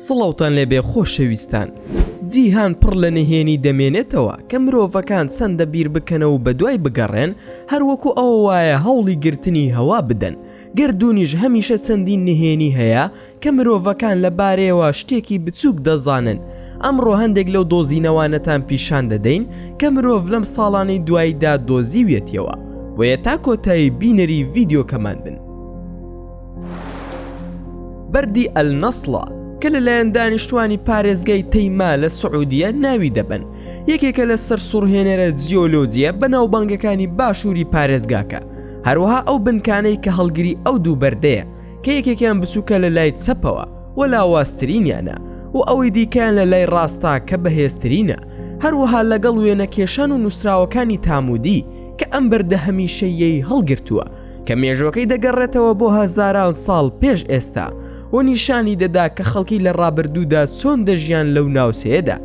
سڵاوتان لێبێ خۆشەویستان جیهان پڕ لە نهێنی دەمێنێتەوە کە مرۆڤەکان چەندە بیر بکەنەوە بە دوای بگەڕێن هەروەکو ئەوە وایە هەوڵی گرتنی هەوا بدەن گردونیش هەمیشە چەندین نهێنی هەیە کە مرۆڤەکان لە بارەیەوە شتێکی بچووک دەزانن، ئەمڕۆ هەندێک لەو دۆزینەوانەتان پیشان دەدەین کە مرۆڤ لەم ساڵانەی دواییدا دۆزیویەتیەوە، بۆیە تا کۆتایی بینەری ڤیدیۆکەمان بن. بەردی ئەلنەسڵە کە لەلایەن دانیشتوانی پارێزگای تەیما لە سعودیە ناوی دەبەن، یەکێکە لە سەرسوڕهێنەرە جیۆلۆجییە بەناوبانگەکانی باشووری پارێزگاکە، هەروەها ئەو بنکانەی کە هەڵگری ئەو دوو بەردەیە، کە یەکێکیان بچووکە لە لای چەپەوە و لاوازترینیانە و ئەوەی دیکەیان لە لای ڕاستە کە بەهێزترینە هەروەها لەگەڵ وێنە کێشان و نووسراوەکانی تامودی کە ئەم بەردە هەمیشەیەی هەڵگرتووە کە مێژۆکەی دەگەڕێتەوە بۆ هەزاران ساڵ پێش ئێستا و نیشانی دەدا کە خەڵکی لە ڕابردوودا چۆن دەژیان لەو ناوچەیەدا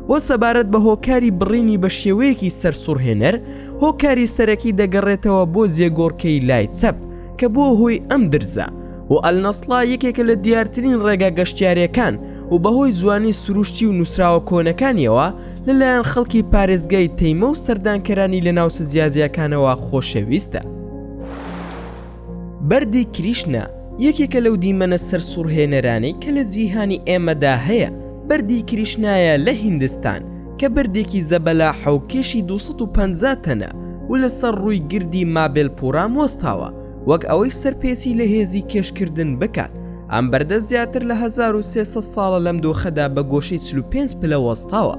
و سەبارەت بە هۆکاری بڕینی بە شێوەیەکی سەرسوڕهێنەر هۆکاری سەرەکی دەگەڕێتەوە بۆ جێگۆڕکەی لای چەپ کە بووە هۆی ئەم درزە و ئەلنەسڵا یەکێکە لە دیارترین ڕێگا گەشتیارەکان و بەهۆی جوانی سروشتی و نووسراوە کۆنەکانیەوە لەلایەن خەڵکی پارێزگای تەیمە و سەردانکەرانی لە ناوچە جیاجیاکانەوە خۆشەویستە. بەردی کریشنا یەکێکە لەو دیمەنە سەرسوڕهێنەرانەی کە لە جیهانی ئێمەدا هەیە، بەردی کریشنایە لە هیندستان، کە بەردێکی زەبەلاحە و کێشی دوو سەد و پەنجا تەنە و لەسەر ڕووی گردی مابێلپوورام وەستاوە، وەک ئەوەی سەرپێچی لە هێزی کێشکردن بکات، ئەم بەردە زیاتر لە هەزار و سێ سەد ساڵە لەم دۆخەدا بە گۆشەی چل و پێنج پلە وەستاوە،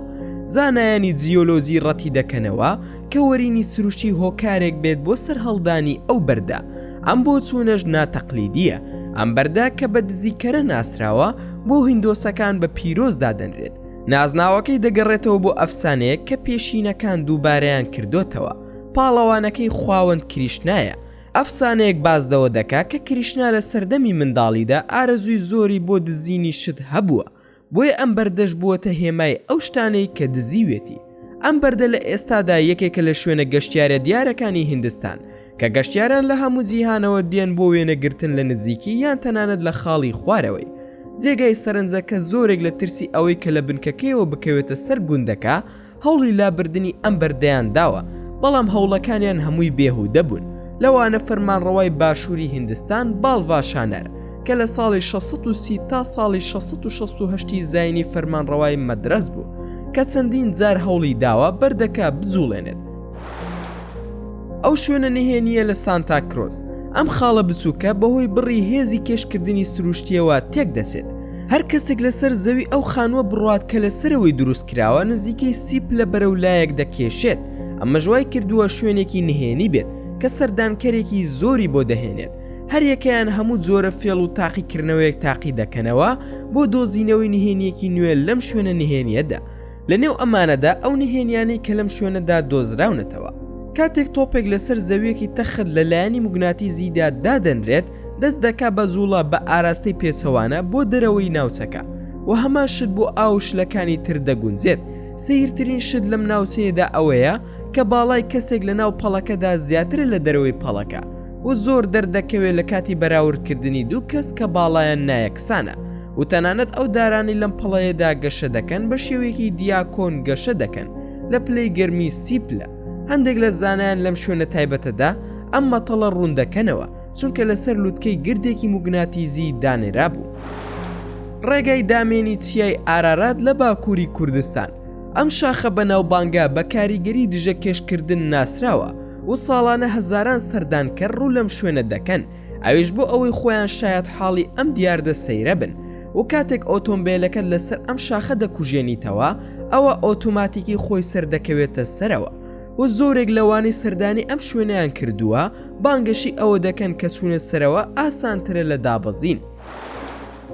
زانایانی جیۆلۆجی ڕەتیدەکەنەوە کە وەرینی سروشتی هۆکارێک بێت بۆ سەرهەڵدانی ئەو بەردە، ئەم بۆچوونەش ناتەقلیدییە، ئەم بەردە کە بە دزیکەرە ناسراوە، بۆ هیندۆسەکان بە پیرۆز دادەنرێت، نازناوەکەی دەگەڕێتەوە بۆ ئەفسانەیەک کە پێشینەکان دووبارەیان کردوتەوە پاڵەوانەکەی خواوەند کریشنایە ئەفسانەیەک بازدەوە دەکا کە کریشنا لە سەردەمی منداڵیدا ئارەزووی زۆری بۆ دزینی شت هەبووە بۆیە ئەم بەردەش بووەتە هێمای ئەو شتانەی کە دزیوێتی ئەم بەردە لە ئێستادا یەکێکە لە شوێنە گەشتیارە دیارەکانی هندستان کە گەشتیاران لە هەموو جیهانەوە دێن بۆ وێنەگرتن لە نزیکی یان تەنانەت لە خاڵی خوارەوەی جێگای سەرنجە کە زۆرێک لە ترسی ئەوەی کە لە بنکەکەیەوە بکەوێتە سەر گوندەکە هەوڵی لابردنی ئەم بەردەیان داوە بەڵام هەوڵەکانیان هەمووی بێهودە بوون لەوانە فەرمانڕەوای باشووری هندستان باڵڤاشانەر کە لە ساڵی 1630 تا ساڵی 1660 زینی فەرمانڕەوای مەدرەس بوو کە چەندین جار هەوڵی داوە بەردەکە بجوڵێنێت ئەو شوێنە نهێنییە لە سانتا کرۆس ئەم خاڵە بچووکە بەهۆی بڕی هێزی کێشکردنی سروشتیەوە تێک دەچێت هەر کەسێک لەسەر زەوی ئەو خانووە بڕات کە لە سەرەوەی دروست کراوە نزیکەی سیپ لە بەرەو لایەک دەکێشێت ئەمە ژوای کردووە شوێنێکی نهێنی بێت کە سەردانکەرێکی زۆری بۆ دەهێنێت هەریەکەیان هەموو جۆرە فێڵ و تاقیکردنەوەیەک تاقی دەکەنەوە بۆ دۆزینەوەی نهێنیەکی نوێ لەم شوێنە نهێنیەدا لە نێو ئەمانەدا ئەو نهێنیانەی کە لەم شوێنەدا دۆزراونەتەوە کاتێک تۆپێک لەسەر زەویەکی تەخت لە لایەنی مگناتیزیدا دادەنرێت دەست دەکا بە جوڵە بە ئاراستەی پێچەوانە بۆ دەرەوەی ناوچەکە و هەمان شت بۆ ئاوشلەکانی تر دەگونجێت سەیرترین شت لەم ناوچەیەدا ئەوەیە کە باڵای کەسێک لە ناو پەڵەکەدا زیاترە لە دەرەوەی پەڵەکە و زۆر دەردەکەوێت لە کاتی بەراورد کردنی دوو کەس کە باڵایان نایەکسانە و تەنانەت ئەو دارانەی لەم پەڵەیەدا گەشە دەکەن بە شێوەیەکی دیاکۆن گەشە دەکەن لە پلەی گەرمی سی پلە هەندێک لە زانایان لەم شوێنە تایبەتەدا ئەم مەتەڵە ڕوون دەکەنەوە چونکە لەسەر لوتکەی گردێکی موگناتیزی دانێرا بوو. ڕێگای دامێنی چیای ئارارات لە باکووری کوردستان ئەم شاخە بەناوبانگە بە کاریگەری دژە کێشکردن ناسراوە و ساڵانە هەزاران سەردانکەر ڕوو لەم شوێنە دەکەن ئەویش بۆ ئەوەی خۆیان شایەتحاڵی ئەم دیاردە سەیرە بن و کاتێک ئۆتۆمبێلەکەت لەسەر ئەم شاخە دەکوژێنیتەوە ئەوە ئۆتۆماتیکی خۆی سەردەکەوێتە سەرەوە و زۆرێک لەوانی سەردانی ئەم شوێنیان کردووە بانگەشی ئەوە دەکەن کە چوونە سەرەوە ئاسانترە لە دابەزین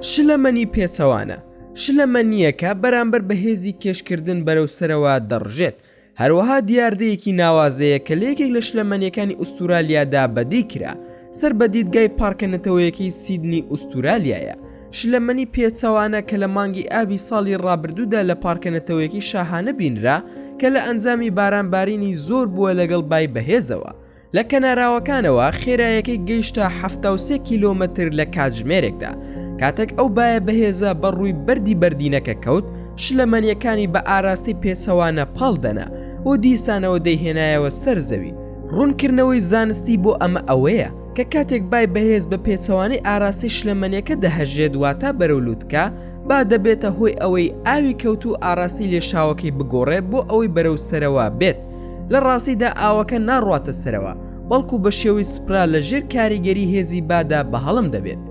شلەمەنی پێچەوانە شلەمەنیەکە بەرامبەر بە هێزی کێشکردن بەرەو سەرەوە دەڕژێت هەروەها دیاردەیەکی ناوازەیە کە لە یەکێک لە شلەمەنیەکانی ئوستورالیادا بەدی کرا سەر بە دیدگای پارکە نەتەوەیەکەی سیدنی ئوستورالیایە شلەمەنی پێچەوانە کە لە مانگی ئابی ساڵی ڕابردوودا لە پارکە نەتەوەیەکی شاهانە بینرا کە لە ئەنجامی باران بارینی زۆر بووە لەگەڵ بای بەهێزەوە لە کەناراوەکانەوە خێرایەکەی گەیشتە حەفتا و سێ کیلۆمەتر لە کاتژمێرێکدا، کاتەک ئەو بایە بەهێزە بە ڕووی بەردی بەردینەکە کەوت، شلەمەنییەکانی بە ئاراستەی پێچەوانە پاڵ دەنا و دیسانەوە دەیهێنایەوە سەر زەوی. ڕوونکردنەوەی زانستی بۆ ئەمە ئەوەیە کە کاتێک بای بەهێز بە پێچەوانەی ئاراستەی شلەمەنییەکە دەهەژێت واتا بەرەو لووتکە، با دەبێتە هۆی ئەوەی ئاوی کەوتوو ئاراستەی لێشاوەکەی بگۆڕێت بۆ ئەوەی بەرەو سەرەوە بێت. لە ڕاستیدا ئاوەکە ناڕواتە سەرەوە، بەڵکو بە شێوەی سپرا لە ژێر کاریگەری هێزی بادا بەهەڵم دەبێت.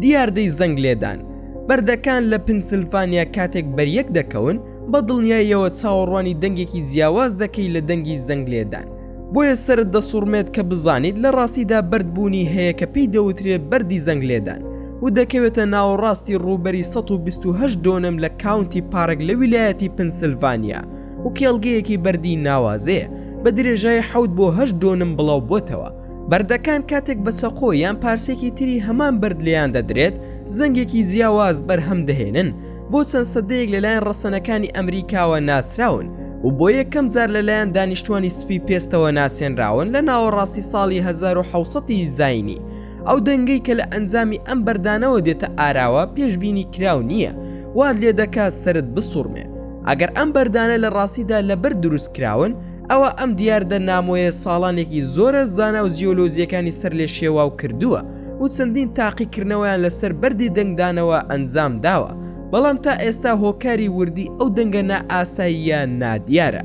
دیاردەی زەنگ لێدان، بەردەکان لە پنسلڤانیا کاتێک بەریەک دەکەون، بە دڵنیاییەوە چاوەڕوانی دەنگێکی جیاواز دەکەیت لە دەنگی زەنگ لێدان، بۆیە سەرت دەسوڕمێت کە بزانیت لە ڕاستیدا بەرد بوونی هەیە کە پێی دەوترێت بەردی زەنگ لێدان و دەکەوێتە ناوەڕاستی ڕووبەری ١٢٨ دۆنم لە کاونتی پارک لە ویلایەتی پنسلڤانیا و کێڵگەیەکی بەردی ناوازەیە بە درێژای حەوت بۆ هەشت دۆنم بڵاو بۆتەوە بەردەکان کاتێک بە چەقۆ یان پارچێکی تری هەمان بەرد لێیان دەدرێت زەنگێکی جیاواز بەرهەم دەهێنن بۆ چەند سەدەیەک لەلایەن ڕەسەنەکانی ئەمریکاوە ناسراون و بۆ یەکەم جار لەلایەن دانیشتوانی سپی پێستەوە ناسێنراون لە ناوەڕاستی ساڵی 1970 ی زاینی ئەو دەنگەی کە لە ئەنجامی ئەم بەردانەوە دێتە ئاراوە پێشبینی کراو نییە وات لێ دەکات سەرت بسوڕمێ ئەگەر ئەم بەردانە لە ڕاستیدا لەبەر دروست کراون ئەوا ئەم دیاردە نامۆیە ساڵانێکی زۆرە زانا و جیۆلۆجیەکانی سەر لێ شێواو کردووە و چەندین تاقیکردنەوەیان لەسەر بەردی دەنگدانەوە ئەنجام داوە بەڵام تا ئێستا هۆکاری وردی ئەو دەنگە نائاساییە نادیارە.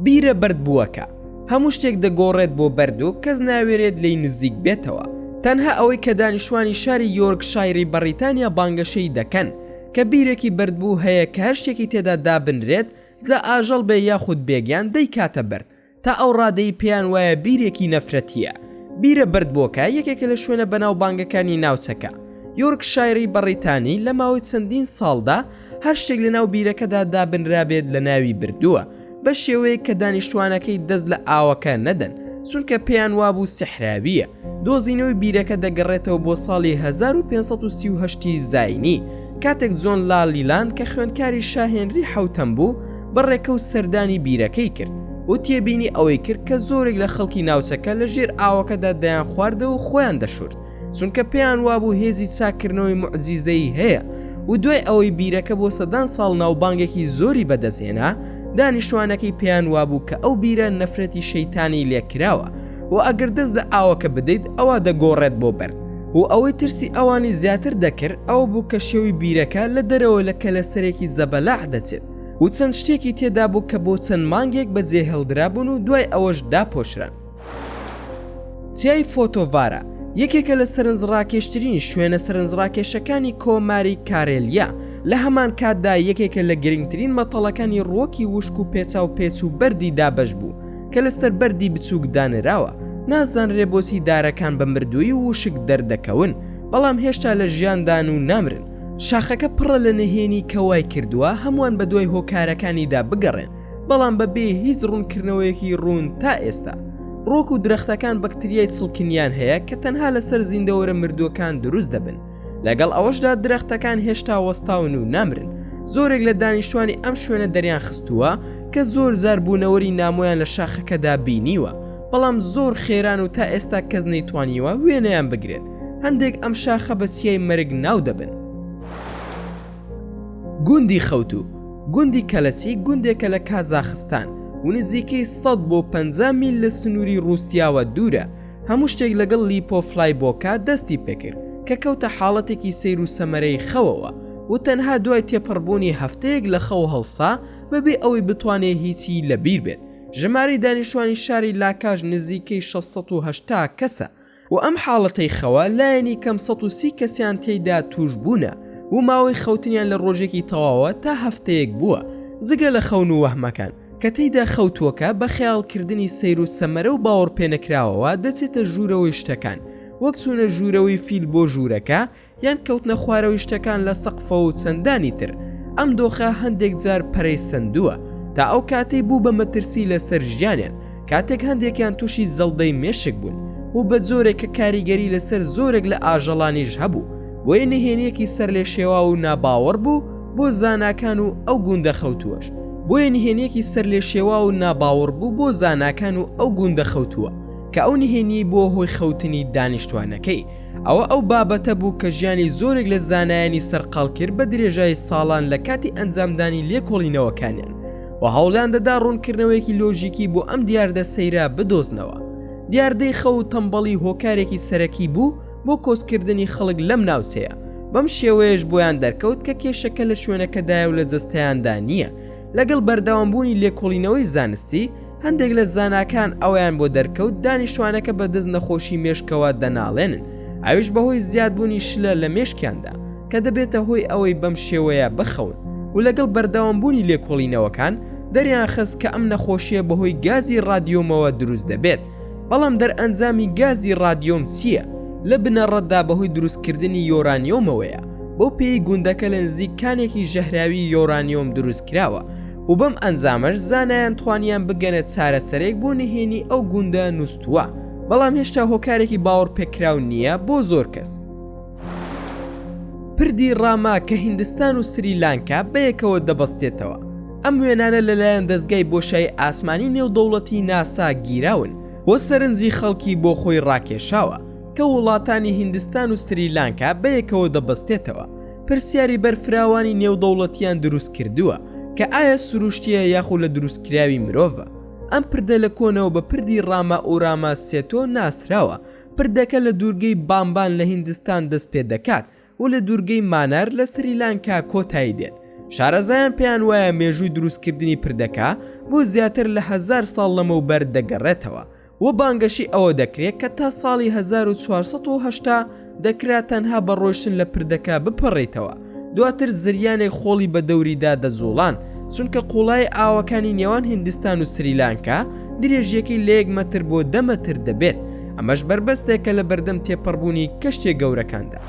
بیرە بەرد بووەکە هەموو شتێک دەگۆڕێت بۆ بەرد و کەس ناوێرێت لێی نزیک بێتەوە تەنها ئەوەی کە دانیشتوانی شاری یۆرک شاعری بەڕیتانیا بانگەشەی دەکەن کە بیرێکی بەردبوو هەیە کە هەر شتێکی تێدا دابنرێت جا ئاژەڵ بێ یاخود بێگیان دەیکاتە بەرد تا ئەو ڕادەی پێیان وایە بیرێکی نەفرەتییە. بیرە بەردبۆکە یەکێکە لە شوێنە بەناوبانگەکانی ناوچەکە. یۆرکشایری بەڕیتانی لە ماوەی چەندین ساڵدا هەر شتێک لەناو بیرەکەدا دابنرابێت لە ناوی بردووە بە شێوەیەک کە دانیشتوانەکەی دەست لە ئاوەکە نەدەن چونکە پێیان وابوو سیحراوییە. دۆزینەوەی بیرەکە دەگەڕێتەوە بۆ ساڵی هەزار و پێنج سەد و سی و هەشت ی زاینی، کاتێک جۆن لا لیلاند کە خوێندکاری شا هێنری حەوتەم بوو، بە ڕێکەوت سەردانی بیرەکەی کرد و تێبینی ئەوەی کرد کە زۆرێک لە خەڵکی ناوچەکە لە ژێر ئاوەکەدا دەیانخواردەوە و خۆیان دەشورد، چونکە پێیان وابوو هێزی چاککردنەوەی موعجیزەیی هەیە و دوای ئەوەی بیرەکە بۆ سەدان ساڵ ناوبانگێکی زۆری بەدەستهێنا، دانیشتوانەکەی پێیان وابوو کە ئەو بیرە نەفرەتی شەیتانی لێکراوە. و ئەگەر دەست لە ئاوەکە بدەیت ئەوا دەگۆڕێت بۆ بەرد و ئەوەی ترسی ئەوانی زیاتر دەکرد ئەوە بوو کە شێوی بیرەکە لە دەرەوە لە کەلەسەرێکی زەبەلاح دەچێت و چەند شتێکی تێدا بوو کە بۆ چەند مانگێک بەجێ هێڵدرابوون و دوای ئەوەش داپۆشران چیای فۆتۆڤارە یەکێکە لە سەرنجڕاکێشترین شوێنە سەرنجڕاکێشەکانی کۆماری کارێلیا لە هەمان کاتدا یەکێکە لە گرنگترین مەتەڵەکانی ڕۆکی وشک و پێچاو پێچ و بەردی دابش بوو کە لەسەر بەردی بچووک دانراوە، نازانرێ بۆچی دارەکان بە مردوویی و وشک دەردەکەون، بەڵام هێشتا لە ژیاندان و نامرن. شاخەکە پڕە لە نهێنی کە وای کردووە هەمووان بەدوای هۆکارەکانیدا بگەڕێن، بەڵام بەبێ هیچ ڕوونکردنەوەیەکی ڕوون تا ئێستا. ڕووەک و درەختەکان بەکتریای چڵکنیان هەیە کە تەنها لەسەر زیندەوەرە مردووەکان دروست دەبن، لەگەڵ ئەوەشدا درەختەکان هێشتا وەستاون و نامرن زۆرێک لە دانیشتوانی ئەم شوێنە دەریان خستووە کە زۆر زاربوونەوەری نامۆیان لە شاخەکەدا بینیوە بەڵام زۆر خێران و تا ئێستا کەس نەیتوانیوە وێنەیان بگرێت هەندێک ئەم شاخە بە سیای مەرگ ناو دەبن گوندی خەوتو گوندی کەلەسی گوندێکە لە کازاخستان و نزیکەی 100 بۆ 50 میل لە سنووری رووسیاوە دوورە هەموو شتێک لەگەڵ لیپۆ فلای بۆکا دەستی پێکرد کە کەوتە حاڵەتێکی سەیر و سەمەرەی خەوەوە و تەنها دوای تێپەڕبوونی هەفتەیەک لە خەو هەڵسا بەبێ ئەوەی بتوانێ هیچی لەبیر بێت ژمارەی دانیشتوانی شاری لاکاش نزیکەی 680 کەسە و ئەم حاڵەتەی خەوە لایەنی کەم 130 کەسیان تێیدا تووش بوونە و ماوەی خەوتنیان لە ڕۆژێکی تەواوە تا هەفتەیەک بووە جگە لە خەون و وەهمەکان کە تێیدا خەوتووەکە بە خەیاڵکردنی سەیر و سەمەرە و باوەڕپێنەکراوەوە دەچێتە ژوورەوەی شتەکان، وەک چوونە ژوورەوەی فیل بۆ ژوورەکە، یان کەوتنە خوارەوەی شتەکان لە سەقفەوە و چەندانی تر. ئەم دۆخە هەندێک جار پەرەی سەندووە، تا ئەو کاتەی بوو بە مەترسی لەسەر ژیانیان، کاتێک هەندێکیان تووشی جەڵدەی مێشک بوون و بە جۆرێک کە کاریگەری لەسەر زۆرێک لە ئاژەڵانیش هەبوو، بۆیە نهێنیەکی سەر لێ شێواو و ناباوەڕ بوو بۆ زاناکان و ئەو گوندە خەوتووەش بۆیە نهێنیەکی سەر لێ شێوا و ناباوەڕ بوو بۆ زاناکان و ئەو گوندە خەوتووە کە ئەو نهێنی بۆ هۆی خەوتنی دانیشتوانەکەی ئەوە ئەو بابەتە بوو کە ژیانی زۆرێک لە زانایانی سەرقال کرد بە درێژایی ساڵان لە کاتی ئەنجامدانی لێکۆڵینەوەکانیان و هەوڵیان دەدا ڕوونکردنەوەیەکی لۆژیکی بۆ ئەم دیاردە سەیرە بدۆزنەوە دیاردەی خەو و تەمبەڵی هۆکارێکی سەرەکی بوو بۆ کۆچکردنی خەڵک لەم ناوچەیە، بەم شێوەیەش بۆیان دەرکەوت کە کێشەکە لە شوێنەکەدایە و لە جەستەیاندا نییە. لەگەڵ بەردەوامبوونی لێکۆڵینەوەی زانستی، هەندێک لە زاناکان ئەوەیان بۆ دەرکەوت دانیشتوانەکە بە دەست نەخۆشی مێشکەوە دەناڵێنن، ئەویش بەهۆی زیادبوونی شلە لە مێشکیاندا کە دەبێتە هۆی ئەوەی بەم شێوەیە بخەون و لەگەڵ بەردەوامبوونی لێکۆڵینەوەکان دەریانخست کە ئەم نەخۆشییە بەهۆی گازی ڕادیۆمەوە دروست دەبێت. بەڵام دەرئەنجامی گازی ڕادیۆم چییە؟ لە بنەڕەتدا بەهۆی دروستکردنی یۆرانیۆمەوەیە، بەو پێیەی گوندەکە لە نزیک کانێکی ژەهراوی یۆرانیۆم دروستکراوە و بەم ئەنجامەش زانایان توانیان بگەنە چارەسەرێک بۆ نهێنی ئەو گوندە نوستووە، بەڵام هێشتا هۆکارێکی باوەڕپێکراو نییە بۆ زۆر کەس. پردی ڕاما کە هیندستان و سری لانکا بەیەکەوە دەبەستێتەوە ئەم وێنانە لەلایەن دەزگای بۆشای ئاسمانی نێودەوڵەتی ناسا گیراون و سەرنجی خەڵکی بۆ خۆی ڕاکێشاوە کە وڵاتانی هیندستان و سری لانکا بەیەکەوە دەبەستێتەوە پرسیاری بەرفراوانی نێودەوڵەتیان دروست کردووە کە ئایا سروشتیە یاخو لە دروستکراوی مرۆڤە ئەم پردە لە کۆنەوە بە پردی ڕاما ئوراما سێتۆ ناسراوە پردەکە لە دوورگەی بامبان لە هیندستان دەست پێ دەکات و لە دوورگەی مانار لە سریلانکا کۆتایی دێت. شارەزایان پێیان وایە مێژووی دروستکردنی پردەکە بۆ زیاتر لە هەزار ساڵ لەمەوبەر دەگەڕێتەوە و بانگەشەی ئەوە دەکرێت کە تا ساڵی هەزار و چوار سەد و هەشتا دەکرا تەنها بە ڕۆیشتن لە پردەکە بپەڕیتەوە دواتر زریانێک خۆڵی بە دەوریدا دەجوڵان چونکە قوڵای ئاوەکانی نێوان هندستان و سریلانکە درێژیەکەی لە یەک مەتر بۆ دەمەتر دەبێت ئەمەش بەربەستێکە لە بەردەم تێپەڕبوونی کەشتێ گەورەکاندا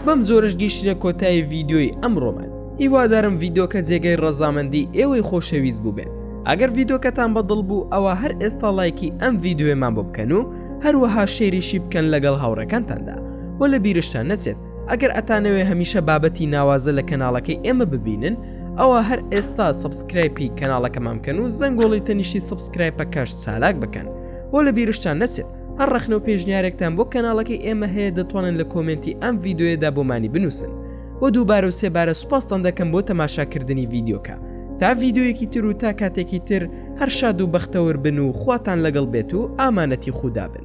بەم زۆرش گەیشتە کۆتایی ڤیددیۆی ئەمڕۆمان هیوادارم ڤیدۆکە جێگەی ڕەزامەندی ئێوەی خۆشەویست بووبێت ئەگەر ڤیدۆکەتان بەدڵ بوو ئەوە هەر ئێستا لایکی ئەم ڤیددیوێمان بۆ بکەن و هەروەها شێریشی بکەن لەگەڵ هاوڕەکانتاندا و لە بیرشتان نەچێت ئەگەر ئەتانەوێ هەمیشە بابەتی ناوازە لە کەناڵەکەی ئێمە ببینن ئەوە هەر ئێستا سبسکرایپی کەناڵەکەمان بکەن و زەنگۆڵی تەنیشتی سبسکرایپەکەش چالاک بکەن بۆ لە بیرشتان نەچێت هەر ڕەخنە و پێشنیارێکتان بۆ کەناڵەکەی ئێمە هەیە دەتوانن لە کۆمنتی ئەم ڤیددیوەدا بۆمانی بنووسن و دووبارە و سێبارە سوپاستان دەکەم بۆ تەماشاکردنی ڤیددیوکە تا ڤیددیویەکی تر و تا کاتێکی تر هەر شاد و بەختەور بن و خواتان لەگەڵ بێت و ئامانەتی خوددا بن